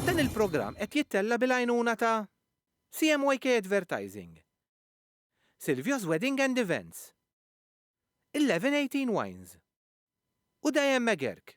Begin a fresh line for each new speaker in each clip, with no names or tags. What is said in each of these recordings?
Dan il-programm qed jittella' bil-għajnuna ta' CMYK Advertising, Silvio's Wedding and Events, 1118 Wines u Diane McGeark.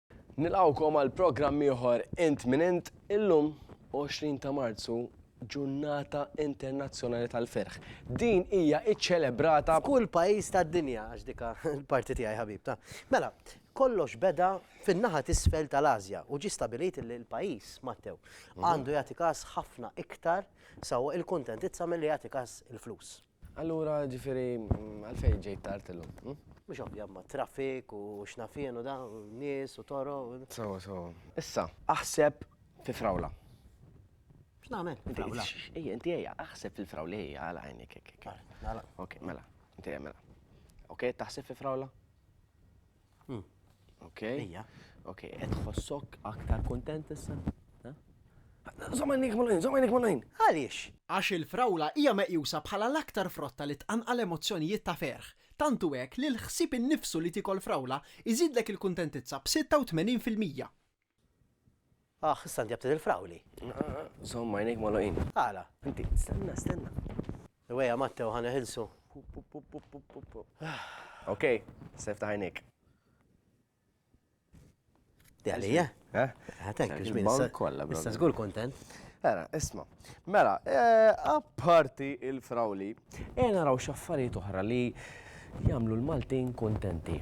Nilqgħukom għal programm ieħor Int Min Int. Illum, 20 ta' Marzu, Ġurnata Internazzjonali tal-Ferħ. Din hija ċċelebrata f'kull pajjiż
tad-dinja, għax dik l-parti tiegħi ħabib, ta. Mela, kollox beda fin-naħa t'isfel tal-Asja u ġie stabilit li l-pajjiż, Mattew, għandu jagħti kas ħafna iktar sewwa il-kuntentizza milli jagħti kas il-flus. Allura, ġifieri,
għalfejn ġejt tard illum? Hm? Mhux ovvja ma
traffic u x'nafien u da, nies u toro. Sawa, sawa.
Issa, aħseb fi frawla.
X'nagħmel? Frawla. Ejja, inti ejja,
aħseb fil-frawla ejja għal għajnik. Ok, mela. Ok, taħseb fi frawla? Ok? Ejja. Ok,
qed
tħossok aktar kuntent issa? Żomm għajnejk magħluqin, żomm għajnejk magħluqin! Għaliex? Għax
il-frawla
hija meqjusa bħala l-aktar frotta li tqanqal emozzjonijiet ta' ferħ, tant hu hekk li l-ħsieb innifsu li tiekol frawla jżidlek il-kuntentizza b'86 fil-mija.
Aħ, issa inti għabtit il-frawli. Żomm għajnejk
magħluqin. Għala, inti.
Stenna,
stenna. Iwejja
Matteo ħa neħilsu.
Ok, sefta għajnejk.
Di għalija? Eh? Għatek, eh, ġmin. Bon kolla, bro. Issa zgur kontent. Era, isma.
Mela, eh, apparti il-frawli, e naraw xaffariet oħra li jamlu l-Maltin kontenti.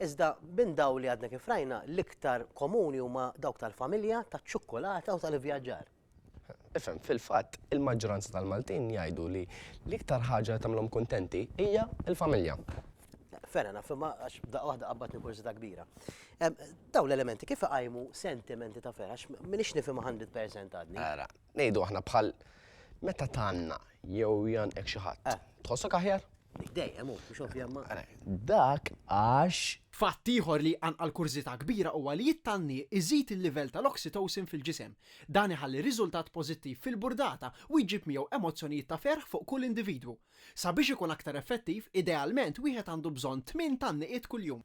Iżda minn daw li għadna kif rajna l-iktar komuni huma dawk tal-familja, taċ-ċukkulata u tal-ivvjaġġar. Ifhem,
fil-fatt, il-maġġoranza tal-Maltin jgħidu li l-iktar ħaġa li tagħmilhom kuntenti hija l-familja. Fair
enough, imma għax daqqa waħda qabbatni kurżità kbira. Daw l-elementi kif iqajmu sentimenti ta' ferħ, għax minix nifhimha 100% għadni. Ara, ngħidu aħna bħal
meta tanna Jew jgħannqek xi ħadd. Eh. Tħossok aħjar? Dejjem hu, mhux
ovvja ma. Eh, dak
għax. Fatt ieħor li
jqanqal kurżità kbira huwa li it-tanni iżid il-livell tal-oxytocin fil-ġisem. Dan iħalli riżultat pożittiv fil-burdata u jġib miegħu emozzjonijiet ta' ferħ fuq kull individwu. Sabiex ikun aktar effettiv, idealment wieħed għandu bżonn tmien tanniqiet kuljum.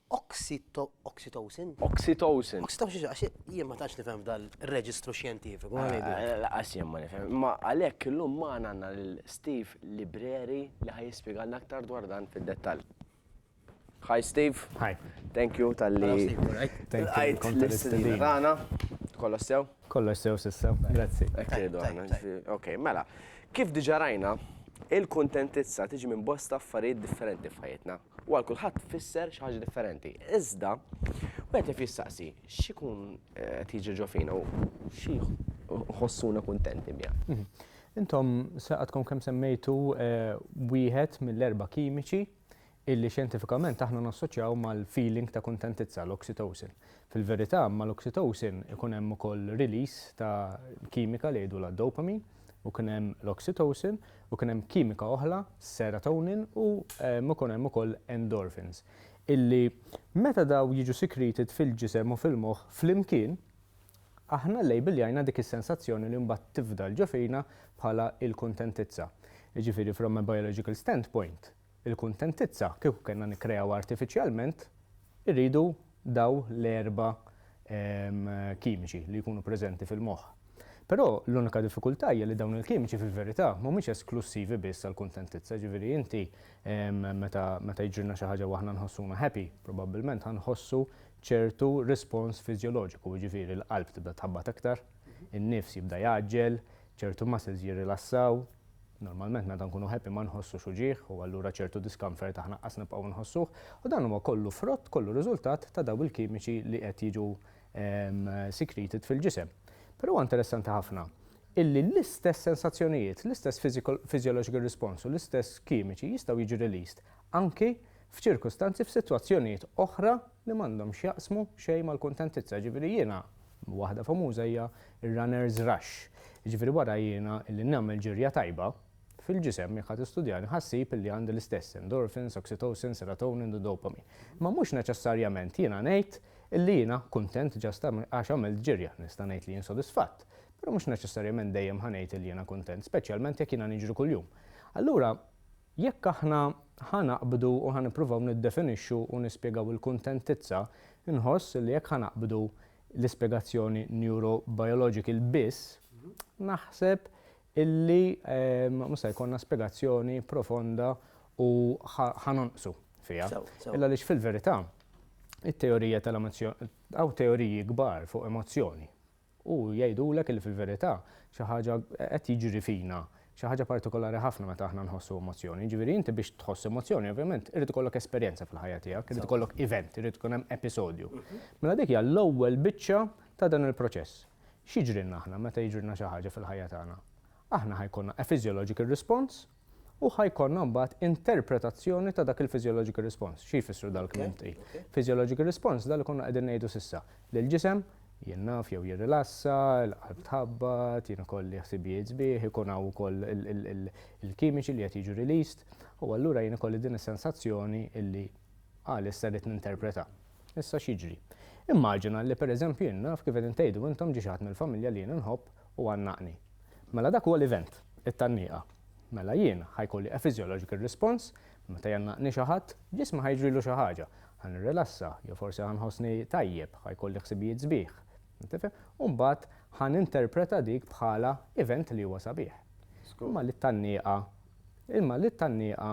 Oxytocin?
Oxytocin. Oxytocin, għax
jien ma tantx nifhem f'dal reġistru xjentifiku. Għax jien ma nifhem.
Ma għalhekk illum ma għandna lil Steve Libreri li ħaj jispjegalna aktar dwar dan fid-dettall. Hi Steve. Hi. Thank
you tal-li.
Thank
you. L-istedina
tagħna. Kollox sew? Kollox sew sissa.
Grazzi.
Ok, mela. Kif diġa rajna, il-kuntentizza tiġi minn bosta affarijiet differenti f'ħajjitna. u għal kulħadd tfisser xi ħaġa differenti. Iżda, wieħed jaf jistaqsi x'ikun qed jiġri ġo fina u xi ħossuna kuntenti biha. Intom
għadkom kemm semmejtu wieħed mill-erba' kimiċi illi xjentifikament aħna nassoċjaw mal-feeling ta' kuntentizza, l-oxytocin. Fil-verità, mal-oxytocin ikun hemm ukoll release ta' kimika li jgħidulha dopamine u kien hemm l-oxytocin u kien hemm kimika oħra, serotonin u ikun hemm ukoll endorphins illi meta dawn jiġu secreted fil-ġisem u fil-moħħ flimkien aħna llejbiljajna dik is-sensazzjoni li mbagħad tifdal ġo fina bħala l-kuntentizza. Jiġifieri from a biological standpoint, Il-kuntentizza kieku kellna nikkreawha artifiċjalment, irridu dawn l-erba' kimiċi li jkunu preżenti fil-moħħ. Però l-unika diffikultà hija li dawn il-kimiċi fil-verità mhumiex esklussivi biss għall-kuntentizza, jiġifieri inti meta jiġrilna xi ħaġa u aħna nħossuna happy, probabbilment ħa nħossu ċertu rispons fiżjoloġiku, jiġifieri l-qalb tibda tħabbat iktar, In-nifs jibda jgħaġġel, ċertu muscles jirrilassaw. Normalment meta nkunu happy ma nħossux uġigħ u allura ċertu discomfort aħna qas nibqgħu nħossuh u dan huwa kollu frott, kollu riżultat ta' dawn il-kimiċi li qed jiġu secreted fil-ġisem. Però huwa interessanti ħafna illi l-istess sensazzjonijiet, l-istess physiological response u l-istess kimiċi jistgħu jiġu released anki f'ċirkustanzi f'sitwazzjonijiet oħra li m'għandhom x'jaqsmu xejn mal-kuntentizza, jiġifieri jiena, waħda famuża hija r-runner's rush, jiġifieri wara jiena li nagħmel ġirja tajba, fil-ġisem jekk ħa tistudjani ħa ssib illi għandi l-istess endorphins, oxytocin, serotonin u dopamine. Imma mhux neċessarjament jiena ngħid illi jiena kuntent just għax għamilt ġirja, nista' ngħid li jien sodisfatt, però mhux neċessarjament dejjem ħa ngħid illi jiena kuntent, speċjalment jekk jiena niġri kuljum. Allura, Jekk aħna ħa naqbdu u ħa nippruvaw niddefinixxu u nispjegaw il-kuntentizza, inħoss li jekk ħa naqbdu l-ispjegazzjoni neurobiological biss, naħseb illi mhux se jkollna spjegazzjoni profonda u ħa nonqsu fiha. Illa għaliex fil-verità, it-teorija tal-emozzjoni, hawn teoriji kbar fuq emozzjoni, U jgħidulek illi fil-verità xi ħaġa qed jiġri fina, xi ħaġa partikolari ħafna meta aħna nħossu emozzjoni. Jiġifieri inti biex tħoss emozzjoni ovvjament irid ikollok esperjenza fil-ħajja tiegħek, irid ikollok event, irid ikun hemm episodju. Mela dik hija l-ewwel biċċa ta' dan il-proċess. X'jiġrilna aħna meta jiġrilna xi ħaġa fil-ħajja tagħna? Aħna ħa jkollna a physiological response, u ħa jkollna mbagħad interpretazzjoni ta' dak il-physiological response. Xi jfissru dawk il-klimti? Physiological response dak li konna qegħdin ngħidu s'issa, li l-ġisem jinaf jew jirrilassa, il-qalb tħabbat, jien ikolli ħsibijiet sbieħ, ikun hawn ukoll il-kimiċi li qed jiġu released, u allura jien ikolli din is-sensazzjoni illi għalissa rrid ninterpreta. Issa x'jiġri? Immaġina li pereżempju jien naf kif qegħdin tgħidu intom ġie xi ħadd mill-familja li jien inħobb u għannaqni. Mela dak huwa l-event, it-tgħanniqa. Mela jien ħa jkolli a physiological response, meta jgħannaqni xi ħadd, ġismi ħa jiġrilu xi ħaġa, ħa nirrilassa, jew forsi ħa nħossni tajjeb, ħa jkolli ħsibijiet sbieħ. Tifhem? U mbagħad ħa ninterpreta dik bħala event li huwa sabiħ. Imma li t-tgħanniqa, imma li t-tgħanniqa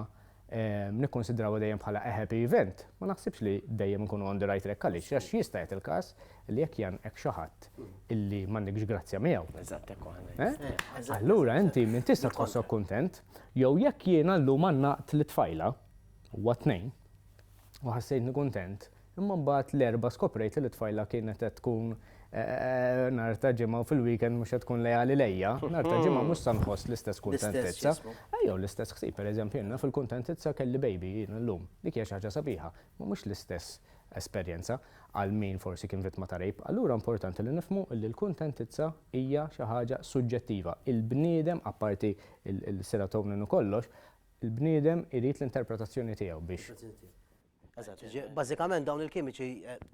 nikkunsidrawha dejjem bħala a happy event, ma naħsibx li dejjem inkunu on the right track għaliex għax jista' jagħti l-każ li jekk jgħannqek xi ħadd illi m'għandekx grazzja miegħu. Eżatt hekk hu.
Allura inti minn
tista' tħossok kuntent jew jekk jiena llum għannaqt lit-tfajla huwa t-Tnejn u ħassejtni kuntent Imma mbagħad l-Erbgħa skoprejt li t-tfajla kienet qed tkun nhar ta' Ġimgħa u fil-weekend mhux qed tkun leali lejja. Nhar ta' Ġimgħa mhux sa nħoss l-istess kuntentizza. Jew l-istess ħsieb, pereżempju jiena fil-kuntentizza kelli baby jiena llum. Dik hija xi ħaġa sabiħa, imma mhux l-istess esperjenza għal min forsi kien vittma ta' rape. Allura importanti li nifhmu li l-kuntentizza hija xi ħaġa suġġettiva. Il-bniedem, apparti l-serotonin u kollox, il-bniedem irid l-interpretazzjoni tiegħu biex. Eżatt, bażikament
dawn il-kimiċi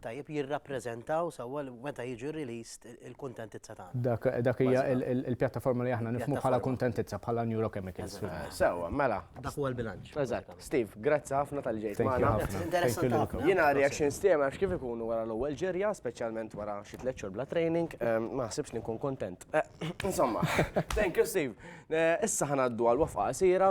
tajjeb jirrappreżentaw sewwa meta jiġu released il-kuntentizza tagħna. Dak hija
l-pjattaforma li aħna nifhmu bħala kuntentizza, bħala neurochemicals. Sewwa, mela.
Dak huwa l-bilanċ.
Eżatt. Steve,
grazzi ħafna tal-li ġejt magħna. Interessanti
ħafna. Jiena
reactions
tiegħi
ma
nafx kif ikunu wara l-ewwel ġirja, speċjalment wara xi tliet xhur bla training, ma naħsibx li nkun kuntent. Insomma, thank you Steve. Issa ħa ngħaddu għal waqfa qasira.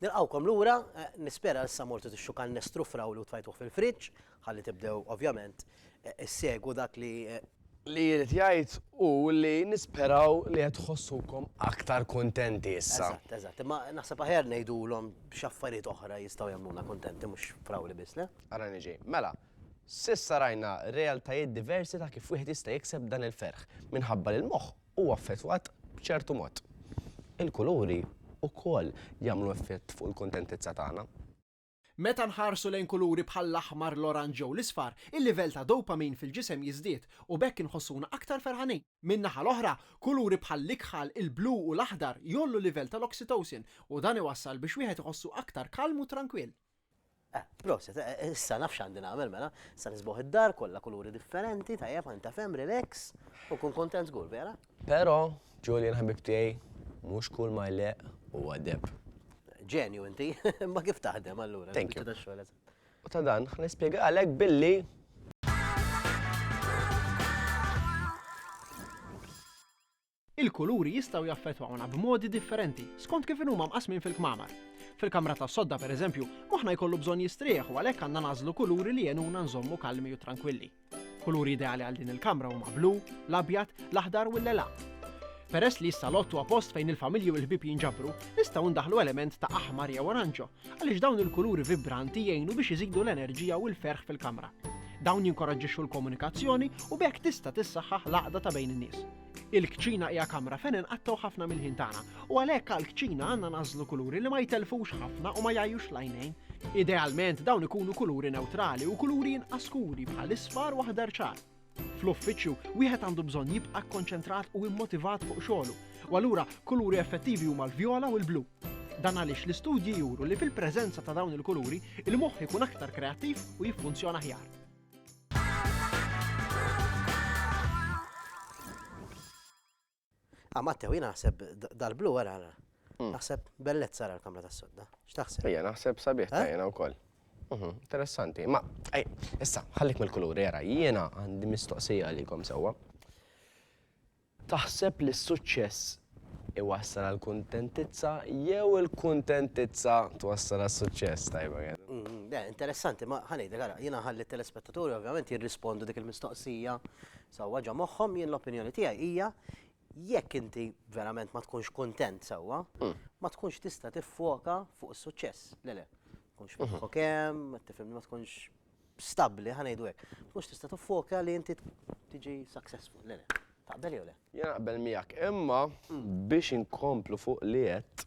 Nilqgħukom lura, nispera issa mortu tixxu kannestru frawli u tfajtuh fil-friġġ, ħalli tibdew ovvjament issegwu dak li. Li jrid
jgħid hu li nisperaw li qed tħossukom aktar kuntenti issa. Eżatt, eżatt. Imma naħseb
aħjar ngħidulhom x'affarijiet oħra jistgħu jagħmluna kuntenti mhux frawli biss, le? Ara niġi. Mela,
s'issa rajna realtajiet diversi ta' kif wieħed jista' jikseb dan il-ferħ, minħabba li l-moħħ huwa affettwat b'ċertu mod. Il-kuluri wkoll jagħmlu effett fuq il-kuntentizza tagħna. Meta
nħarsu lejn kuluri bħall-aħmar, l-oranġ jew l-isfar, il-livell ta' dopamine fil-ġisem jiżdied u b'hekk inħossuna aktar ferħanin. Min-naħa l-oħra, kuluri bħall-ikħal, il-blu u l-aħdar jgħollu l-livell tal-oxytocin u dan iwassal biex wieħed iħossu aktar kalm u trankwill. Eh, proset,
eh, eh, issa naf x'għandi nagħmel mela, sa nisbuħ id-dar kollha kuluri differenti, tajjeb anta fem relax u kun kontent żgur vera. Però,
Julian ħabib tiegħi, mhux kull ma jleq u għadeb. Ġenju
inti, ma kif taħdem allura. Thank you.
U ta'
dan,
nispjega għalek billi
Il-kuluri jistgħu jaffettwawna b'modi differenti skont kif inhuma mqassmin fil-kmamar. Fil-kamra tas-sodda, pereżempju, moħħna jkollu bżonn jistrieħ u għalhekk għandna nagħżlu kuluri li jgħinuna nżommu kalmi u trankwilli. Kuluri ideali għal din il-kamra huma blu, l-abjad, l-aħdar u l-lelaq. Peress li s-salott huwa post fejn il-familji u l-ħbieb jinġabru, nistgħu ndaħlu element ta' aħmar jew oranġo, għaliex dawn il-kuluri vibranti jgħinu biex iżidu l-enerġija u l-ferħ fil-kamra. Dawn jinkoraġġixxu l-komunikazzjoni u b'hekk tista' tissaħħaħ l-għaqda ta' bejn in-nies. Il-kċina hija kamra fejn inqattgħu ħafna mill-ħin tagħna, u għalhekk għall-kċina għandna nażlu kuluri li ma jtellfux ħafna u ma jgħajjux l-għajnejn. Idealment dawn ikunu kuluri newtrali u kuluri inqas skuri bħal isfar u aħdar ċar. Fl-uffiċċju, wieħed għandu bżonn jibqa' kkonċentrat u immotivat fuq xogħlu, u allura kuluri effettivi huma l-vjola u l-blu. Dan għaliex l-istudji juru li fil-preżenza ta' dawn il-kuluri, il-moħħ ikun aktar kreattiv u jiffunzjona ħjar.
Ah, Mattew, jina naħseb dal-blu għara għara. Hmm. Naħseb bellet sara l-kamra ta' sodda. X'taħseb? Ija, naħseb sabiħ ta' eh?
jena u koll. Mhm, interessanti. Ma, ej, issa, ħallik mill-kuluri, għara, jena għandi mistoqsija għalikom sewa. Taħseb li s-suċċess iwassal għall-kuntentizza jew il-kuntentizza twassal għas-suċċess? Tajba kienet. Le, interessanti, ma ħa
ngħidlek, ara, jiena nħalli t-telespettaturi ovvjament jirrispondu dik il-mistoqsija sewwa ġo moħħhom, jien l-opinjoni tiegħi hija jekk inti verament ma tkunx kuntent sewwa, ma tkunx tista' tiffoka fuq is-suċċess. Le le. Ma tkunx tħokkok hemm, tifhimni, ma tkunx stabbli, ħa ngħidu hekk, ma tkunx tista' tiffoka li inti tiġi successful, le le. Taqbel jew le? Jien naqbel miegħek,
imma biex inkomplu fuq li għedt.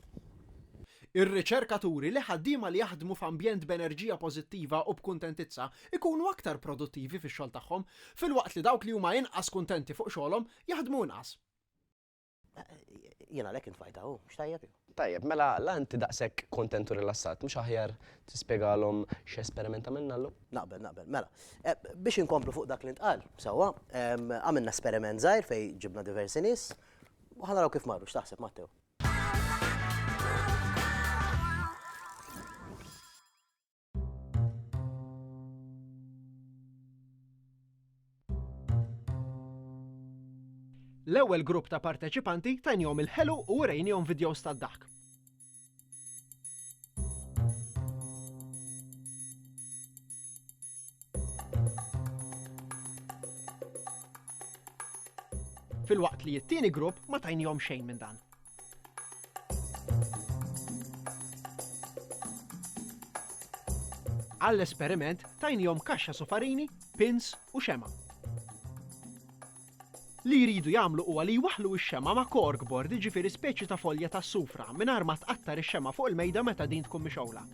Ir-riċerka turi
li ħaddiema li jaħdmu f'ambjent b'enerġija pożittiva u b'kuntentizza jkunu aktar produttivi fix-xogħol tagħhom, filwaqt li dawk li huma inqas kuntenti fuq xogħolhom jaħdmu inqas. Jien
għalhekk intfajta hu, x'tajjeb hu. Tajjeb, mela la inti
daqshekk kontent u rilassat, mhux aħjar tispjegalhom x'esperiment għamilna llum? Naqbel, naqbel. Mela,
biex inkomplu fuq dak li ntqal, sewwa, għamilna esperiment żgħir fejn ġibna diversi nies u ħa naraw kif marru, x'taħseb, Matteo?
L-ewwel grupp ta' parteċipanti tajnihom il-ħelu u urejnihom vidjows tad-daħk. filwaqt li t-tieni grupp ma tajnihom xejn minn dan. Għall-esperiment tajnihom kaxxa sufarini, pins u xema'. Li jridu jagħmlu huwa li jwaħħlu x-xema' ma' corkboard jiġifieri speċi ta' folja tas-sufra mingħajr ma tqattar ix-xema' fuq il-mejda meta din tkun mixgħula.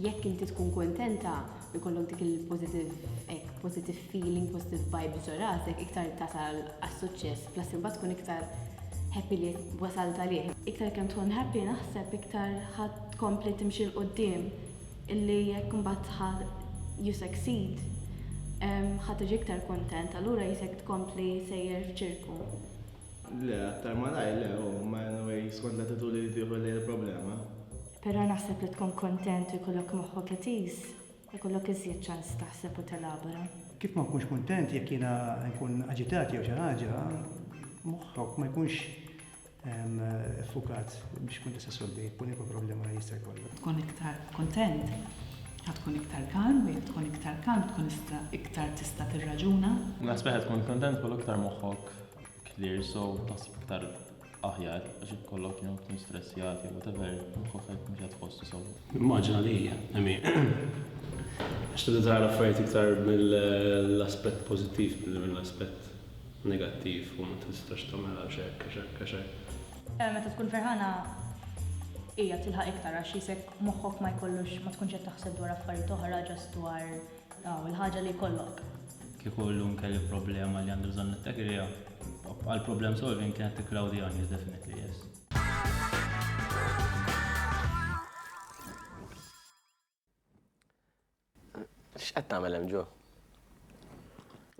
Jekk inti tkun
kuntenta u jkollok dik il-positive hekk positive feeling, positive vibes ġo rasek, iktar tasal għas-suċċess, plus imbagħad tkun iktar happy li wasalt għalih. Iktar kemm tkun happy naħseb iktar ħa tkompli timxi 'l quddiem illi jekk imbagħad ħa you succeed ħa tiġi iktar kuntent, allura jisek tkompli sejjer f'ċirku. Le,
aktar malajr le, hu, imma anyway skont l-attitudni li tieħu lejn il-problema. Però naħseb
li tkun kuntent u jkollok moħħok etiż, ikollok iżjed ċans taħseb u telabora. Kif ma nkunx kuntent
jekk jiena nkun aġitat jew xi ħaġa, moħħok ma jkunx ffukat biex tkun tista' ssolvi kwalunkwe problema li jista' jkollok. Tkun iktar
kuntent, ħa tkun iktar kalm, u jekk tkun iktar kalm tkun iktar tista' tirraġuna. Naħseb li ħa tkun
kuntent jkollok iktar moħħok clear, so taħseb iktar aħjar għax jekk ikollok jum tkun stressjat jew whatever, ruħek mhux qed tħossu sew. Immaġina li hija,
emi. Għax tibda tara l-affarijiet iktar mill-aspett pożittiv milli mill-aspett negattiv u ma tistax tagħmel għax hekk, għax hekk, għax hekk. Meta
tkun ferħana hija tilħaq iktar għax jisek moħħok ma jkollux ma tkunx qed taħseb dwar affarijiet oħra ġast dwar Aw il-ħaġa li jkollok. Kieku llum
kelli problema li għandi bżonn nittakilha, għal problem solving kienet tikkloudi on you definitely yes.
X'qed tagħmel hemm ġo?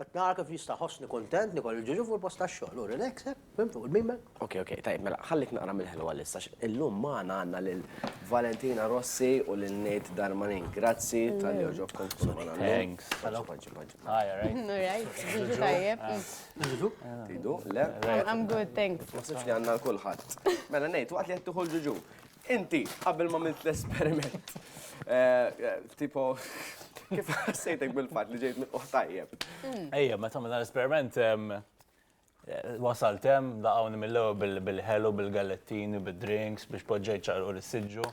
Qed nara kif nista' ħossni kuntent li kolli ġiġu fuq il-post tax-xogħol u relax, hekk, fhimt, fuq il-min bag. Okej, okej, tajjeb, mela,
ħallik naqra mill-ħelu għalissa għax illum magħna għandna lil Valentina Rossi u lil Nate Darmanin. Grazzi talli għoġobkom tkunu magħna llum. Thanks. Ġibu, ġibu, ġibu,
ġibu. Hi, all right? All
right, ġiġu tajjeb. Ġiġu?
Tridu? Le?
I'm good, thanks.
Ma ħsibx li għandna għal kulħadd.
Mela, Nate, waqt li qed tieħu l-ġiġu, Inti, qabel ma milt l-esperiment, tipo, kif ħassejtek bil-fat li ġejt mill-qoħ tajjeb? Mm. Ejja, meta
minna l-esperiment, wasalt hemm laqgħuni mill-ewwel bil-ħelu, bil-gallettini, bil-drinks biex poġġejt ċarqu l-siġġu.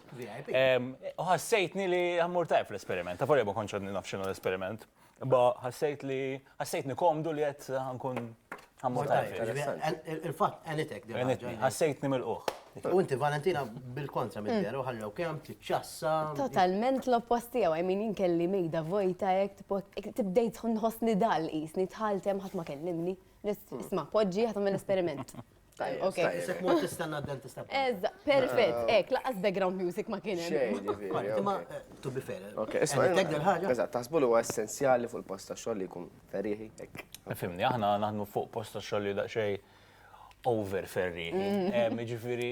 U ħassejtni li ħammur tajb l-esperiment, ta' forja ma kontx nafxinu l-esperiment. Imma ħassejt li ħassejtni komdu li qed ħankun ħammur Il-fatt għenitek
din. Ħassejtni mill-qoħ.
U inti Valentina
bil-kontra minn vera mm. ħallew kemm tiċċassa. Totalment
l-oppost tiegħu, I mean inkelli mejda vojta hekk tibdejt nħossni dal qisni tħaltem ħadd ma kellimni. Mm. Isma' poġġi ħadd l esperiment Tajjeb, ok. Isek mort tistenna
d-dentista. Eżda, perfett,
ah. ek, laqas background music ma kien hemm. Imma
eh, to be fair. Ok, eh, isma' tek del ħaġa.
Eżatt, taħsbu li huwa essenzjali fuq il-post ta' xogħol li jkun ferriħi hekk. Eh, fimni, aħna naħdmu
fuq post ta' xogħol li daqsxejn over ferriħi. Mm. Ġifieri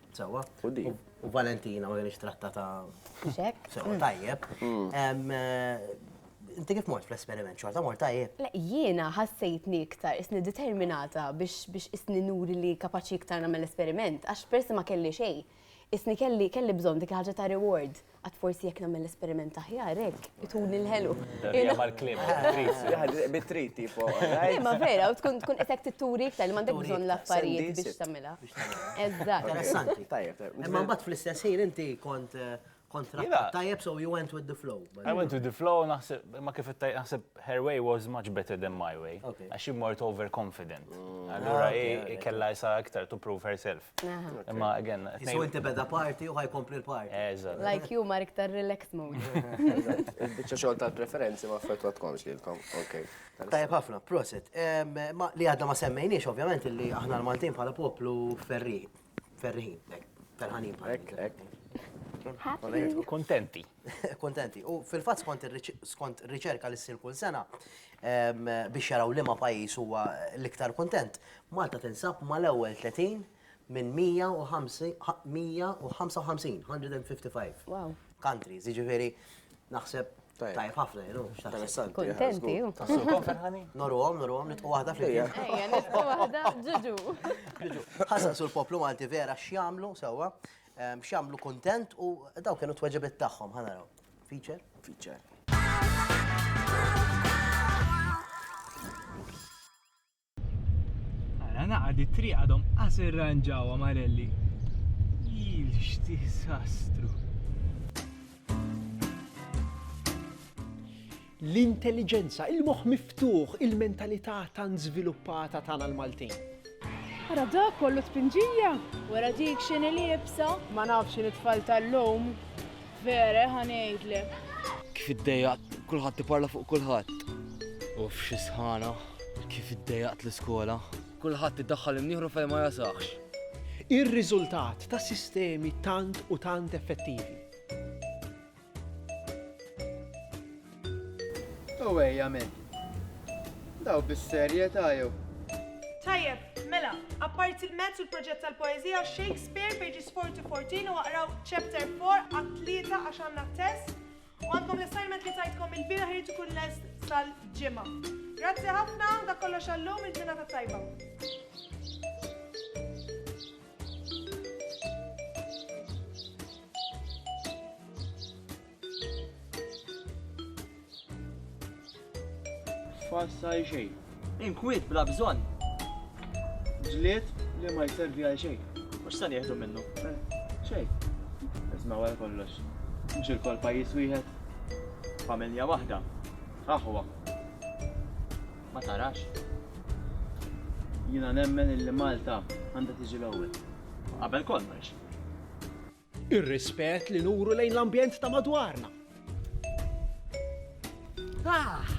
Sewwa. U din. U Valentina ma kienx trattata. Xek. Sewwa
tajjeb.
Inti kif mort fl-esperiment xorta mort tajjeb? Le, jiena
ħassejtni iktar isni determinata biex biex isni nuri li kapaċi iktar nagħmel esperiment, għax persi ma kelli xejn. Isni kelli kelli bżonn dik ħaġa ta' reward. Għad forsi jekk nagħmel esperiment aħjar hekk, ituni l-ħelu. Hija mal-kliem,
bit-trit. Bit-trit,
tipo. Ma vera, u
tkun tkun qed titturi iktar li m'għandek bżonn l-affarijiet biex tagħmilha. Eżatt. Interessanti.
Tajjeb. Imma mbagħad fl-istess ħin inti kont kont trattat tajjeb so you went with the flow. I went with the flow
naħseb imma kif qed naħseb her way was much better than my way. Għax hi mort overconfident. Allura hi kellha issa iktar to prove herself. Imma again. So inti beda party
u ħajkompli l-party. Eżatt. Like you Mark
tar
relaxed mode. Biċċa
xogħol tal-preferenzi ma affettwatkomx lilkom. Ok. Tajjeb ħafna,
prosit. Li għadna ma semmejniex ovvjament li aħna l-Maltin bħala poplu ferri. Ferriħin, ferħanin bħala. Kontenti.
Kontenti. U
fil-fatt skont riċerka li ssir kull sena, Biex jaraw liema pajjiż huwa l-iktar kuntent, Malta tinsab mal-ewwel 30 minn 155, 155, countries, jiġifieri naħseb tajjeb ħafna, you know, x'taħseb? Kuntenti
hu. Tassukom ferħanin?
Norruhom, norruhom, nitqu waħda flimkien. Ejja, nitqu
waħda, ġuġu. Ġuġu. Ħa
saqsu l-poplu Malti vera x'jagħmlu sewwa, x'jagħmlu kuntent u dawn kienu t-tweġibiet tagħhom, ħa naraw. Feature?
Feature. Ara naqad it-triq għadhom qas irranġawha Marelli. Il x'disastru.
L-intelliġenza, il-moħħ miftuħ, il-mentalità tant żviluppata tagħna l-Maltin. Ara
dak kollu spinġija! Wara dik x'inhi liebsa? Ma nafx x'inhi t-tfal tal-lum. Vere, ħa ngħidlek. Kif iddejjaqt,
kulħadd iparla fuq kulħadd. Uff xi sħana, kif iddejjaqt l-iskola. Kulħadd iddaħħal imnieħru fejn ma jasaqx. Ir-riżultat
ta' sistemi tant u tant effettivi.
U ejja men. Daw bis-serjetà jew. Tajjeb,
mela, apparti l-mezz u l-proġett tal-poeżija, Shakespeare, pages 4 to 14 u aqraw chapter 4 għat tlieta għax għandna test. U għandkom l-assignment li tajtkom il-bieraħ irid ikun lest sal-ġimgħa. Grazzi ħafna, dak kollox għallum il-ġurnata tajba.
falsa għal xejn. Inkwiet bla
bżonn.
Ġlied li ma jservi għal xejn. Mhux se nieħdu minnu.
Eh, xejn.
Isma' għal kollox. Mhux il-kol pajjiż wieħed. Familja waħda.
Aħwa. Ma tarax? Jiena
nemmen illi Malta għandha tiġi l-ewwel. Qabel kollox.
Ir-rispett
li nuru lejn l-ambjent ta' madwarna. Ah!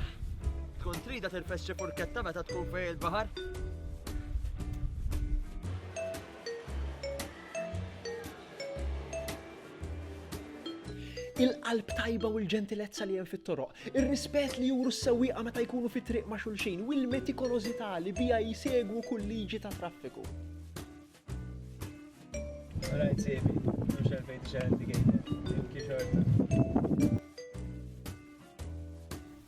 Tkun trida tirfes xi furketta meta tkun fej il-baħar?
il-qalb tajba u l-ġentilezza li hemm fit-toroq, ir-rispett li juru s-sewwieqa meta jkunu fit-triq ma' xulxin u l-metikolożità li biha jsegwu kull liġi ta' traffiku.
Rajt siebi, mhux għalfejn tixgħel indicator, kif xorta.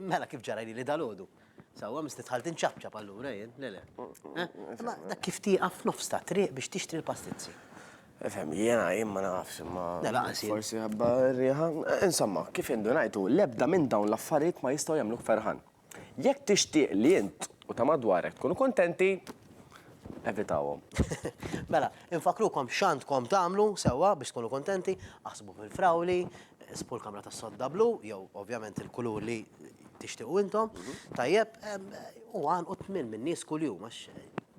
Mela kif ġara li dalgħodu. Sewwa misti dħalt inċapċap allura jien, le le. Imma dak kif tieqaf f'nofs ta' triq biex tixtri l-pastizzi. Ifhem li
jiena jien ma nafx imma. Le lanqas jien. Forsi ħabba
r-riħa.
Insomma, kif indunajt hu l-ebda minn dawn l-affarijiet ma jistgħu jagħmluk ferħan. Jekk tixtieq li int u ta' madwarek tkunu kuntenti, evitahom.
Mela, infakkrukom x'għandkom tagħmlu sewwa biex tkunu kuntenti, aħsbu fil-frawli, Isbu l-kamra tas-sodda blu, jew ovvjament il-kulur li tixtiequ intom, tajjeb, u għalqu tmien minn nies kuljum għax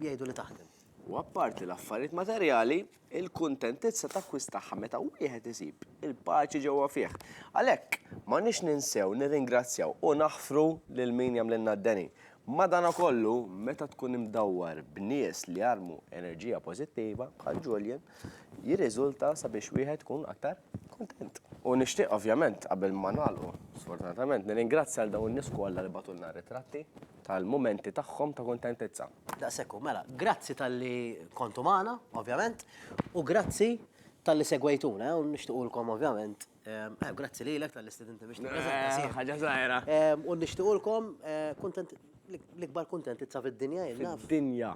jgħidu li taħdem. U
apparti l-affarijiet materjali, il-kuntentizza takkwistaha meta wieħed isib il-paċi ġewwa fih. Għalhekk, m'għandniex ninsew nirringrazzjaw u naħfru lil min jagħmlilna d-deni. Madankollu, meta tkun imdawwar b'nies li jarmu enerġija pożittiva, bħal Julian, jirriżulta sabiex wieħed ikun aktar Kuntent. U nixtieq ovvjament qabel ma nagħlqu, sfortunatament, nirringrazzja għal dawn in-nies kollha li bagħtulna ritratti tal-mumenti tagħhom ta' kuntentizza. Daqshekk hu, mela,
grazzi talli kontu magħna, ovvjament, u grazzi talli segwejtuna, u nixtiequlkom ovvjament, grazzi lilek talli stidinti biex nippreżenta. Ħaġa żgħira.
U nixtiequlkom
l-ikbar kuntentizza fid-dinja, jien naf. Fid-dinja.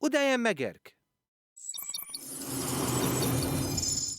U dejjem Megerk!